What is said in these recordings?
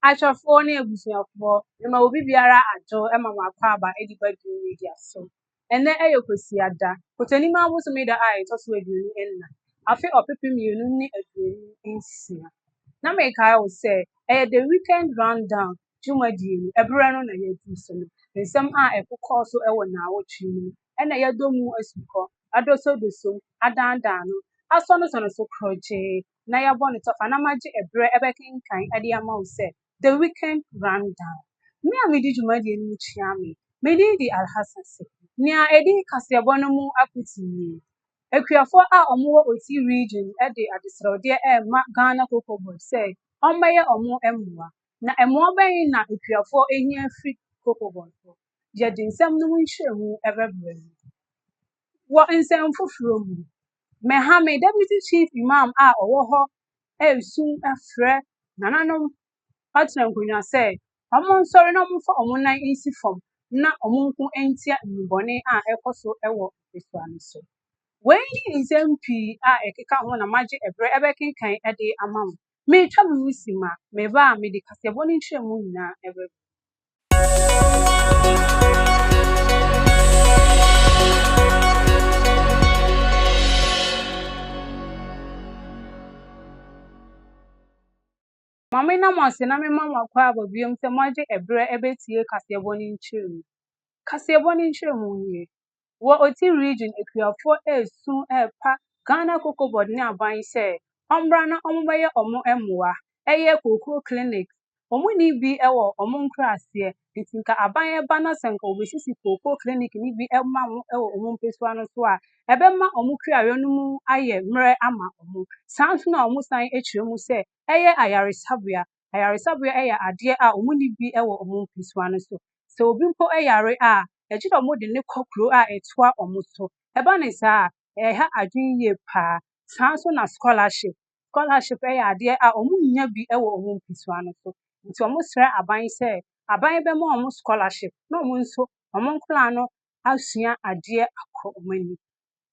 Ahwɛfoɔ ne abusuafoɔ, mema obi biara adwo ma mo akwaaba de ba dwumadie so. Ɛnnɛ ɛyɛ Kwasiada, Kɔtɔnim abosome da a ɛtɔ so aduonu nna, afe ɔpepem mmienu ne aduonu nsia. Na mekae wo sɛ ɛyɛ The Weekend Rundown dwumadie no ɛberɛ no na yɛadu so no. Nsɛm a ɛkokɔɔ so wɔ nnaawɔtwe mu no ɛna yɛadɔ mu asukɔ, adosodosom, adaadaano, asɔnesɔne so korɔgyee, na yɛabɔ no tɔfa na magye ɛberɛ bɛkenkan de ama wo sɛ The Weekend Rundown. Me a midi dwumadie no mu kyia me, me din de Alhassan Sekou. Nea ɛdi kaseɛbɔ no mu afotu nie, Akuafoɔ a wɔwɔ Oti Region de adesrɛwdeɛ rema Ghana Cocoa Board sɛ wɔmmɛyɛ wɔn mmoa. Na mmoa bɛn na akuafoɔ hia firi Cocoa Board hɔ? Yɛde nsɛm no mu nkyerɛmu bɛbrɛ mo. Wɔ nsɛm foforɔ mu, Mehame Deputy Chief Imam a ɔwɔ hɔ resu frɛ nananom atena nkonnwa sɛ wɔnsɔre na wɔmfa wɔn nan nsi fam na wɔnko ntia nnubɔne a ɛrekɔ so wɔ mpasua no so. Wei ne nsɛm pii a ɛkeka ho na magye ɛberɛ ɛbɛkenkan de ama mo. Meretwa mo ho si ma me ba a mede kaseɛbɔ no nkyerɛmu nyinaa bɛba mu. Ma me na mo ase na me ma mo akɔ aba biom sɛ mo agye ɛberɛ ɛbɛtie kaseɛbɔ no nkyerɛmu. Kaseɛbɔ no nkyerɛmu nie. wɔ Oti Region akuafoɔ resu repa Ghana Cocoa Board ne aban sɛ wɔmmra na wɔmmɛyɛ wɔn mmoa. Ɛyɛ kookoo clinics. Wɔn nni bi wɔ wɔn nkuraaseɛ, nti nka aban ba na sɛ nka wɔbɛsisi kookoo clinic no bi ma wɔn wɔ wɔn mpesua no so a, ɛbɛma wɔn kuayɔ no mu ayɛ mmerɛ ama wɔn. Saa nso na wɔsan kyerɛ mu sɛ ɛyɛ ayaresabea. Ayaresabea yɛ adeɛ a wɔn nni bi wɔ wɔn mpasua no so. Sɛ obi mpo yare a, ɛgye dɛ wɔn de no kɔ kuro a ɛtoa wɔn so. Ɛba no saa a, ɛha adwene yie paa. Saa ara nso na scholarship. Scholarship yɛ adeɛ a wɔn nnya bi wɔ wɔn mpasua no so. Nti wɔn srɛ aban sɛ aban bɛma wɔn scholarship na wɔn nso wɔn nkwadaa no asua adeɛ akɔ wɔn anim.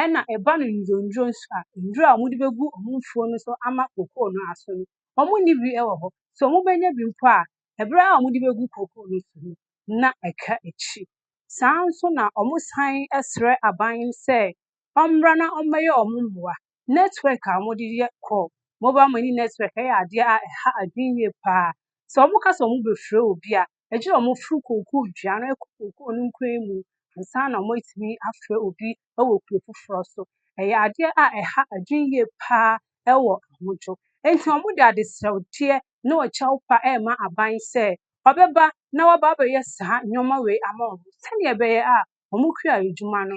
ɛna ɛba no nnwudrɔnwudrɔ nso a, nnuro a wɔde bɛgu wɔn mfuo no so ama kokoo no aso no, wɔnni bi wɔ hɔ. Sɛ wɔbɛnya bi mpo a, ɛberɛ a wɔde bɛgu kokoo no so no, na ɛka akyi. Saa ara nso na wɔsan srɛ aban no sɛ wɔmmra na wɔmmɛyɛ wɔn mmoa. Network a wɔde yɛ call, mobile money network, yɛ adeɛ a ɛha adwene yie pa ara. Sɛ wɔka sɛ wɔbɛfrɛ obi a, Agye a wɔforo kookoo dua no kɔ kookoo no nkuran mu ansa na wɔatumi afrɛ obi wɔ kuro foforɔ so. Ɛyɛ adeɛ a ɛha adwene yie paa wɔ ahodwo. Enti wɔde adesrɛdeɛ ne ɔkyɛw pa rema aban sɛ wɔbɛba na wɔaba abɛyɛ saa nneɛma wei ama wɔn sɛdeɛ ɛbɛyɛ a wɔn kura adwuma no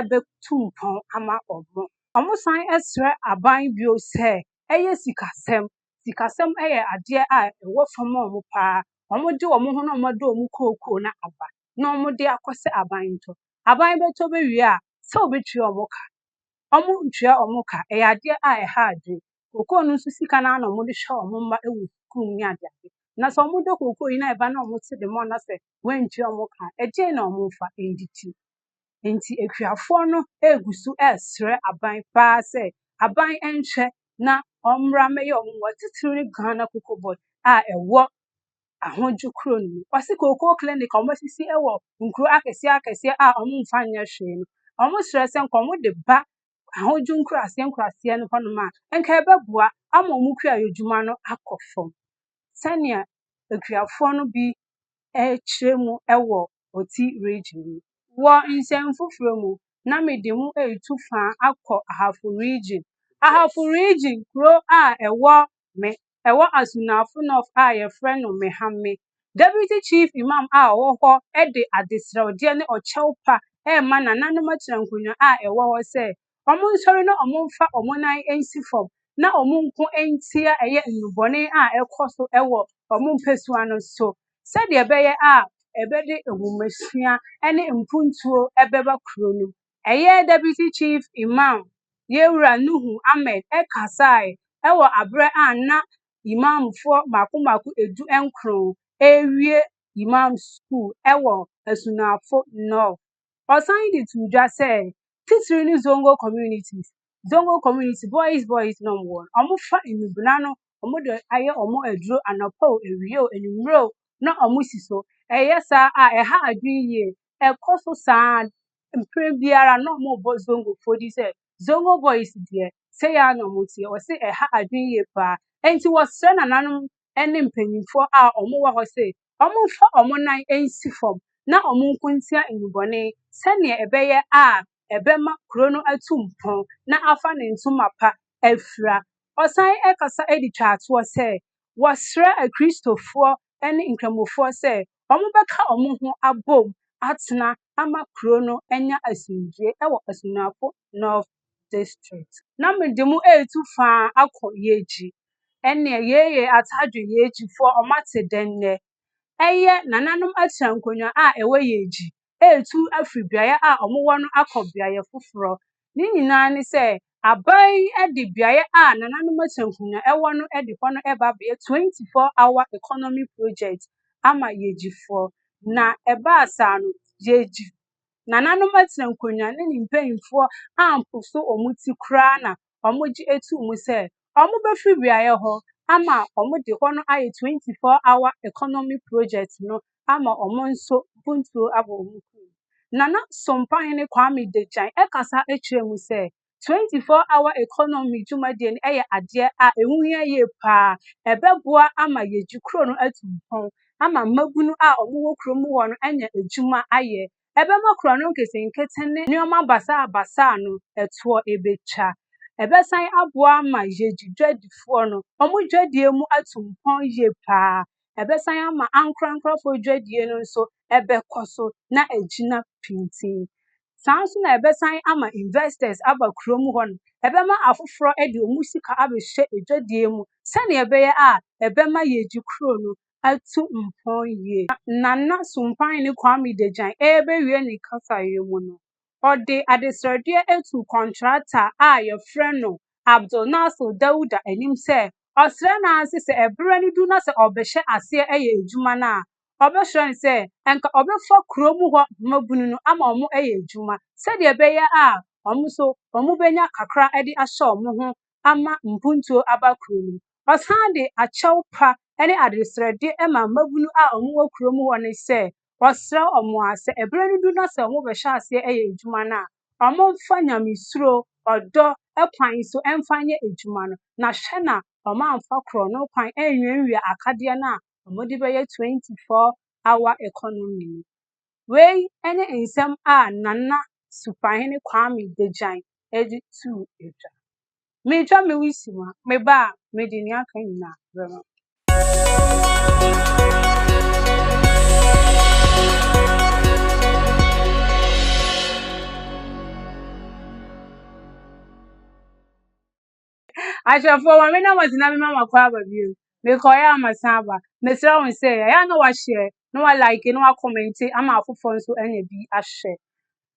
bɛtu mpɔn ama wɔn. Wɔsan srɛ aban bio sɛ ɛyɛ sikasɛm Sikasɛm yɛ adeɛ a ɛwɔ fam ma wɔn pa ara. Wɔde wɔn ho na wɔde wɔn kookoo no aba na wɔde akɔ sɛ aban ntɔ. Aban bɛtɔ bɛwie a, sɛ wɔbɛtua wɔn ka. Wɔntua wɔn ka. Ɛyɛ adeɛ a ɛha adwene. Kookoo no nso sika no ara na wɔde hwɛ wɔn mma wɔ sukuu mu ne adeade. Na sɛ wɔdɔ kookoo yi na ɛba na wɔte de ma wɔn na sɛ wɔantua wɔn ka a, ɛdeɛn na wɔmfa? Ɛnde ti. Enti akuafoɔ no regu so resrɛ aban paa sɛ, aban nhwɛ na ɔmmra mmɛyɛ wɔn mmoa, titiriw ne Ghana Coco Board a ɛwɔ Ahodwo kuro no mu. Wɔse kooko clinic a wɔasisi wɔ nkuro akɛseɛ akɛseɛ a wɔmfa nyɛ hwee no, wɔsrɛ sɛ nka wɔde ba Ahodwo nkuraseɛ nkuraseɛ no hɔnom a, nka ɛbɛboa ama wɔn kuayɔdwuma no akɔ fam. Sɛnea akuafoɔ no bi rekyerɛ mu wɔ Oti Region mu. Wɔ nsɛm foforɔ mu, na mede mo retu fã akɔ Ahafo Region. Ahafo Region, kuro a ɛwɔ Me, ɛwɔ Asunafo North a wɔfrɛ no Mehame. Deputy Chief Imam a ɔwɔ hɔ de adesrɛwdeɛ ne ɔkyɛw pa rema nananom akyerɛnkonnwa a ɛwɔ hɔ sɛ Wɔnsɔre na wɔmfa wɔn nan nsi fam na wɔnko ntia ɛyɛ nnubɔne a ɛrekɔ so wɔ wɔn mpasua no so sɛdeɛ ɛbɛyɛ a ɛbɛde nhomasua ne mpuntuo bɛba kuro no. Ɛyɛ Deputy Chief Imam, Yɛwura Nuhu Ahmed kasaeɛ wɔ aberɛ a na Imamfoɔ mmaako mmaako ɛdu nkron ɛrewie Imam School wɔ Asunafo North. Ɔsan de too dwa sɛ, titiriw ne Zongo communities, Zongo community, boys boys nom wɔ no, wɔfa nnubona no, wɔde ayɛ wɔn aduro anɔpa o, awia o, anwummere o, na wɔsi so. Ɛyɛ saa a, ɛha adwene yie. Ɛkɔ so saa ara, mprɛ biara na wɔrebɔ Zongofoɔ din sɛ, Zongo boys deɛ, sei ara na wɔteɛ. Wɔse ɛha adwene yie paa. Enti wɔsrɛ nananom ne mpanimfoɔ a wɔwɔ hɔ se, wɔmfa wɔn nan nsi fam na wɔnko ntia nnubɔne sɛdeɛ ɛbɛyɛ a ɛbɛma kuro no atu mpɔn na afa ne ntoma pa afira. Ɔsan kasa de twaa toɔ sɛ, Wɔsrɛ Akristofoɔ ne Nkramofoɔ sɛ wɔbɛka wɔn ho abom atena ama kuro no anya asomdwoeɛ wɔ Asuafoɔ North district. Na me de mo etu faa akɔ Yeji. Ɛnneɛ yei yɛ Atadwe Yejifoɔ a wɔate dɛn nnɛ. Ɛyɛ nananom atua nkonnwa a ɛwɔ Yeji etu afiri beaeɛ a wɔwɔ no akɔ beaeɛ foforɔ. Ne nyinaa ne sɛ aban yi de beaeɛ a nananom atua nkonnwa wɔ no de hɔ no reba abɛyɛ 24 hour economy project ama Yejifoɔ. Na ɛbaa saa no, Yeji Nananom atsena nkonnwa na ne mpanyimfoɔ amposo wɔn ti koraa na wɔgye atuu mu sɛ wɔbɛfiri beaeɛ hɔ ama wɔde hɔ no ayɛ 24 hour economy project no ama wɔn nso mpuntuo abɔ wɔn kɔn mu. Nana Sompahene Kwame Degyan kasa kyerɛɛ mu sɛ, twenty four hour economy dwumadie no yɛ adeɛ a ɛho hia yie paa. Ɛbɛboa ama yɛgye kuro no atu mpɔn ama mmabunu a wɔwɔ kuro mu hɔ no anya adwuma ayɛ. Ɛbɛma kuro no nketenkete ne nneɛma basaabasaa no ɛtoɔ ɛbɛtwa. Ɛbɛsan aboa ama yɛgye dwadifoɔ no wɔn dwadie mu atu mpɔn yie paa. Ɛbɛsan ama ankorankorɔfoɔ dwadie no nso ɛbɛkɔ so na agyina pintinn. Saa ara nso na ɛbɛsan ama investors aba kurom hɔ no, ɛbɛma afoforɔ de wɔn sika abɛhyɛ adwadie mu sɛdeɛ ɛbɛyɛ a ɛbɛma yɛagye kuro no atu mpɔn yie. Nana Sumpahene Kwame Degyan rebɛwie ne kasaeɛ mu no, ɔde adesrɛdeɛ tuu kɔntrata a wɔfrɛ no Abdul Nasir Dauda anim sɛ ɔsrɛ no ara sɛ sɛ ɛberɛ no du na sɛ ɔbɛhyɛ aseɛ yɛ adwuma no a, wɔbɛsrɛ no sɛ anka ɔbɛfa kurom hɔ mmabunu no ama wɔayɛ adwuma sɛdeɛ ɛbɛyɛ a wɔn nso wɔbɛnya kakra de ahyɛ wɔn ho ama mpuntuo aba kuro no mu. Wɔsan de akyɛw pa ne adesrɛde ma mmabunu a wɔwɔ kurom hɔ no sɛ wɔsrɛ wɔn a sɛ ɛberɛ no du na sɛ wɔbɛhyɛ aseɛ ayɛ adwuma no a, wɔmfa nyamesuro, ɔdɔ kwan so mfa nyɛ adwuma no. Na hwɛ na wɔamfa korɔno kwan anwiawia akadeɛ no a wɔde bɛyɛ 24 hour economy no. Wei ne nsɛm a Nana Supahene Kwame Degyan de too dwa. Metwa me wusiw mu a, meba a, mede nea aka nyinaa bɛma mo. ahwɛfoɔ ma me na wɔdze na mema makɔ aba bio mekɔeɛ a masan aba mesrɛ wo sɛ ɛyɛ a na wahyɛ na wa like na wa comment ama afoforɔ nso anya bi ahwɛ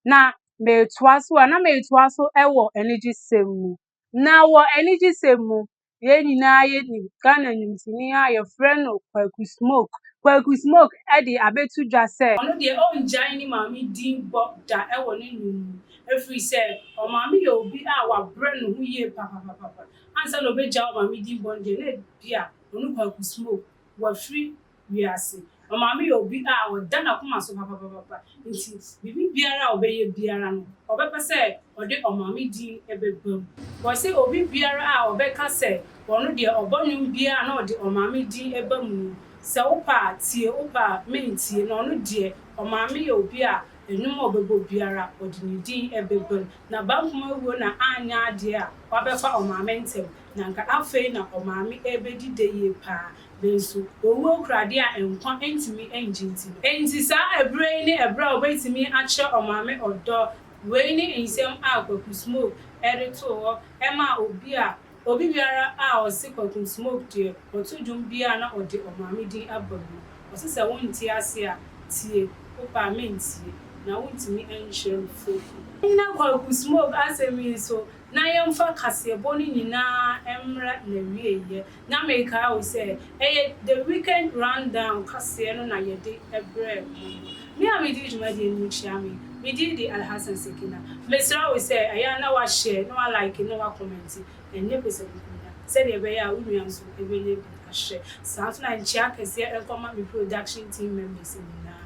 na metoa so a na metoa so wɔ anigye sɛm mu na wɔ anigye sɛm mu yɛn nyinaa yɛnim Ghana nimtini a yɛfrɛ no Kwaku Smoke Kwaku Smoke de abɛto dwa sɛ ɔno deɛ ɔngyae ne maame din bɔ da wɔ ne nnwom mu Ɛfiri sɛ ɔmaame yɛ obi a wabrɛ ne ho yie papapapapa. Ansa na ɔbɛgyae ɔmaame din bɔne deɛ, na ebia ɔne Kwaku Smoke wɔafiri wiase. Ɔmaame yɛ obi a ɔda n'akoma so papapapapa, nti biribi biara a ɔbɛyɛ biara no, ɔbɛpɛ sɛ ɔde ɔmaame din bɛba mu. Wɔse obi biara a ɔbɛka sɛ ɔno deɛ ɔbɔ nnwom biara a na ɔde ɔmaame din ba mu no, sɛ wopɛ a tie, wopɛ a mentie, na ɔno deɛ ɔmaame yɛ obi a Nnwom a ɔbɛbɔ biara, ɔde ne din bɛguan. N'abampem awuo na anyɛ adeɛ a, wabɛfa ɔmaame ntɛm. Na anka afei na ɔmaame rebɛdi dɛ yie pa ara. Nanso, owuo kura adeɛ a nkwa ntumi nnye nti no. Enti saa ɛberɛ yi ne ɛberɛ a ɔbɛtumi akyerɛ ɔmaame ɔdɔ. Wei ne nsɛm a Kwaku Smoke de too hɔ maa obi a. Obi biara a ɔse Kwakum Smoke deɛ ɔto dwom biara a na ɔde ɔmaame din abɔ mu no, ɔse sɛ wonte ase a, tie, wopɛ a mentie, na wontumi nkyerɛ me fuofo. Ɛnna Kwaku Smoke asɛm yi nso, na yɛmfa kaseɛbɔ no nyinaa mmra n'awieeɛ. Na mekae wo sɛ, ɛyɛ The Weekend Rundown kaseɛ no na yɛde brɛɛ mo no. Me a medi dwumadie no mu kyia me. Me din de Alhassan Sekina. Mesrɛ wo sɛ ɛyɛ a na wa share, na wa like, na wa comment ɛnnɛ posabukuo no a, sɛdeɛ ɛbɛyɛ a wo nua nso bɛnya bi ahwɛ. Saa nso na nkyea kɛseɛ nkɔma me production team members nyinaa.